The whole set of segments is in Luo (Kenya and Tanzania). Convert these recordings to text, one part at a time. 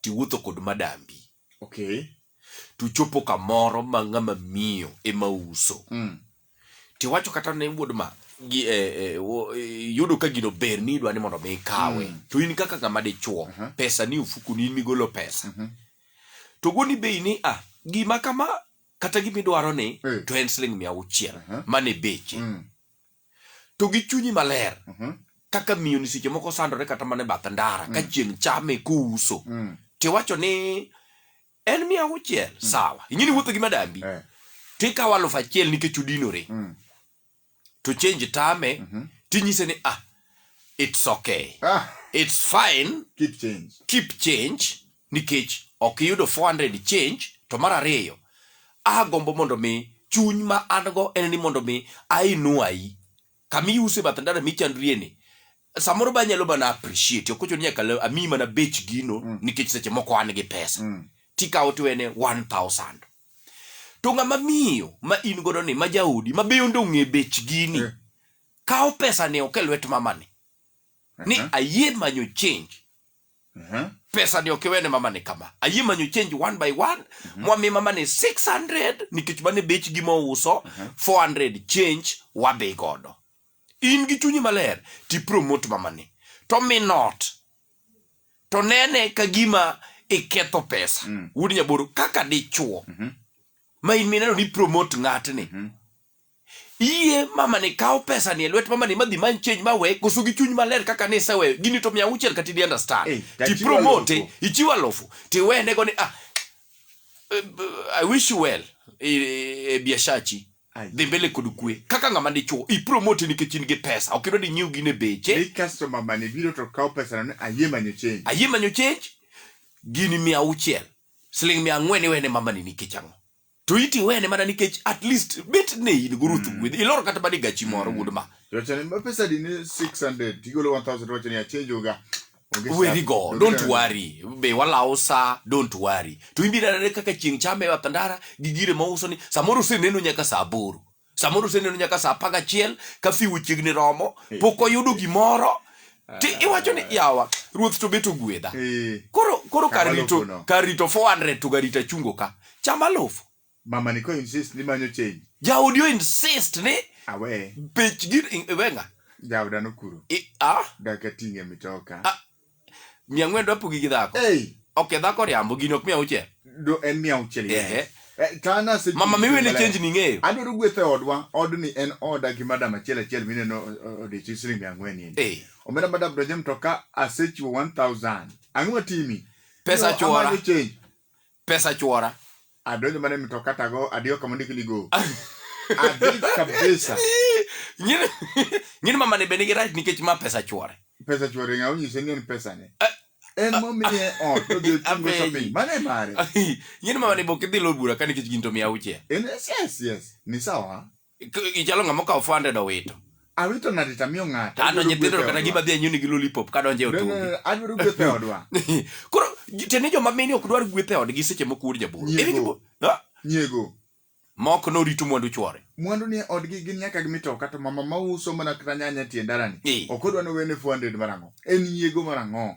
tiwuotho kod madambi okay tuchopo kamoro ma ng'ama miyo ema uso mm. tiwacho kata ne wuod ma gi, eh, eh, wo- eh, yudo ka gino ber ni idwa ni mondo mi ikawe Mm. to in kaka ng'ama dichuo Aha. pesa ni ofuku ni in migolo pesa Mhm. to goni bei ni ah gima kama kata gimidwaro ni Eh. to en siling mia auchiel Aha. mane beche mm. to gi chunyi maler Mhm. kaka miyo ni seche moko sandore kata mana e bath ndara ka chieng' chame kouso Mm. tiwacho ni en mia auchiel sawa ing'e ni wuotho gi madambi Eh. tikawo alufu achiel nikech udinore Mm. to change tame Mhm. tinyise ni ah it's okay Ah, it's fine keep change. keep change nikech ok iyudo 400 change to mar ariyo agombo mondo mi chuny ma an go en ni mondo mi ainwayi kama iuse bath ndara michandrie ni samoro ba nyalo mana appreciate ok ochuno ni nyaka la- amiyi mana bech gino Mm. nikech seche moko an gi pesa Mm. tikawo tiwene 1000 to ng'ama miyo ma in godo ni ma jaodi ma be onde ong'e bech gini Eh. kawo pesa ni oke lwet mamani ni Aha. ayie manyo change Aha. pesa ni ok iwene mama ni kama ayie manyo change one by one mwami mama ni 600 nikech mane bech gima ouso 400 change wadhi godo in gi chunyi maler ti promote mama ni to mi not to nene ka gima iketho pesa wuod nyaboro kaka dichuo ma in mineno ni promote ng'atni Yie mamani kaw pesa ni e lwet mamani madhi many change mawe koso gi chuny maler kaka ni iseweyo gini to mia auchiel kata idi understand Eh, ti tachiwo promote alufu. ichiwo alufu tiwene go ni ah eh, I wish you well e, e, e biashachi Ai. dhi mbele kod kwe kaka ng'ama dichuo ipromote nikech in gi pesa ok idwa ni nyiew gine beche Ni customer mane biro to kaw pesa no ayie manyo change. ayie manyo change gini mia auchiel siling mia ang'wen iwene mamani nikech ang'o to iti wene mana nikech at least bet ne in guru thu gwedhi ilor kata bani gachi moro wuod ma Tuwacho ni ma pesa di ni 600 tigolo 1000 tuwacho ni achenjo ga. Onge weri shida. go Onge don't shida. worry be walawo sa don't worry to ibiro nene kaka chieng' chame e bath ndara gi gire ma uso ni samoro useneno nyaka sa aboro samoro oseneno nyaka saa apar gachiel ka fiu chiegni romo pok oyudo gimoro ti iwacho ni yawa ruoth to bet ogwedha Eh, koro koro kar Chama rito lofuno. kar rito 400 to garita chungo ka chama lofu mama ni ko insist ni manyo change jaodi o insist ni awe bech gir wenga jaoda nokuro i- ah, daka ting'e mitoka ah, mia ang'wen dwa pogi gi dhako Hey, ok dhako riambo gini ok mia auchiel do en mia auchiel yes. Ehe. Eh, tana se- mama miwene maler. chenji ni ng'eyo adwaro gweth e odwa odni en oda gi madam achiel achiel mineno eh, odiochieng' siling mia ang'wen ni Eh, omera madam donjo mtoka asechiwo 1000 ang'o matimi pesa No, chuora amanyo change. pesa chwora adonjo mana e mtoka tago adiyo kama ondik ni go adhi kabisa Nyini- nyini mamani be nigi rach nikech ma pesa chwore pesa chwore ng'a onyise ni en pesa ne en momiye ot to dhi otingo Apenji. shopping mano e mare nyini mamani be ok idhi lor bura ka nikech gin to mia auchiel en yes yes ni sawa K- Ichalo ng'ama okawo 400 owito. awito ng'ato to amiyo ng'ato To ano nyithindo to kata gima dhi anyuni gi lollipop ka donjo e otungi. adwaro gweth e odwa Koro j- tiende ni joma mine ok dwar gweth e odgi seche moko wuod jabolo. Nyiego. Ere tipo? Ha? nyiego Mok norito mwandu chwore. mwandu ni e odgi gin nyaka gimi to kata mama ma uso mana kata nyanya e tie ndalani Eh. ok odwa ni owene 400 marang'o en nyiego marang'o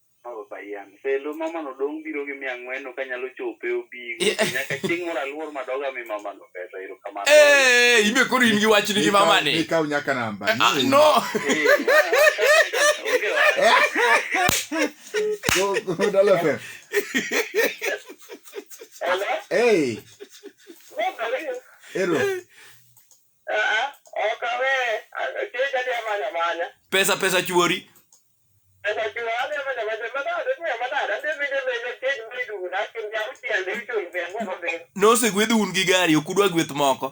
Felo mamano dong' biro gi mia ang'wen ok anyalo chope obigo. Nyaka chieng' moro aluor madoga mi mamano pesa erokamano. Eh, ibe koro in gi wachni gi mama ni. Ikaw nyaka namba. Ah, no. Go go dollar fam. Hey. Ero. Pesa pesa chuori. nosegwedh un gi gari ok udwa gweth moko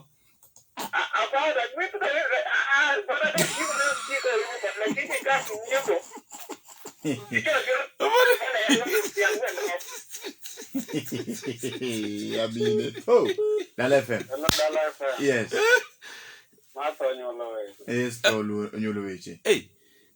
Yabine. Oh, Dala FM. Yes. Yes, Paul Onyolo Weche. hey,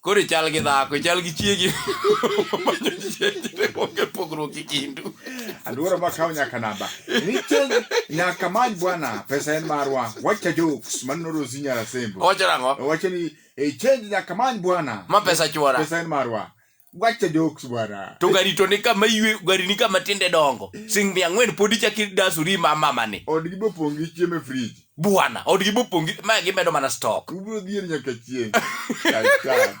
Koro ichal gi dhako, ichal gi chiegi. Manyo chiegi ne onge pogruok e kindu. Aluora ma kawo nyaka namba. Nitie nyaka many bwana pesa en marwa. Wacha jokes man noro zinya la sembo. Owacho nang'o? Wacho ni e change nyaka many bwana. Ma pesa chwora. Pesa en marwa. Wacha jokes bwana. To gari to ni kama ywe, gari ni kama tinde dongo. Sing mia ang'wen pod ichaki dasuri ma mama ni. Od gi bopong' gi chiemo e fridge. bwana odgi bopongi ma gimedo mana stock ubiro dhier nyaka chieng' Kaka.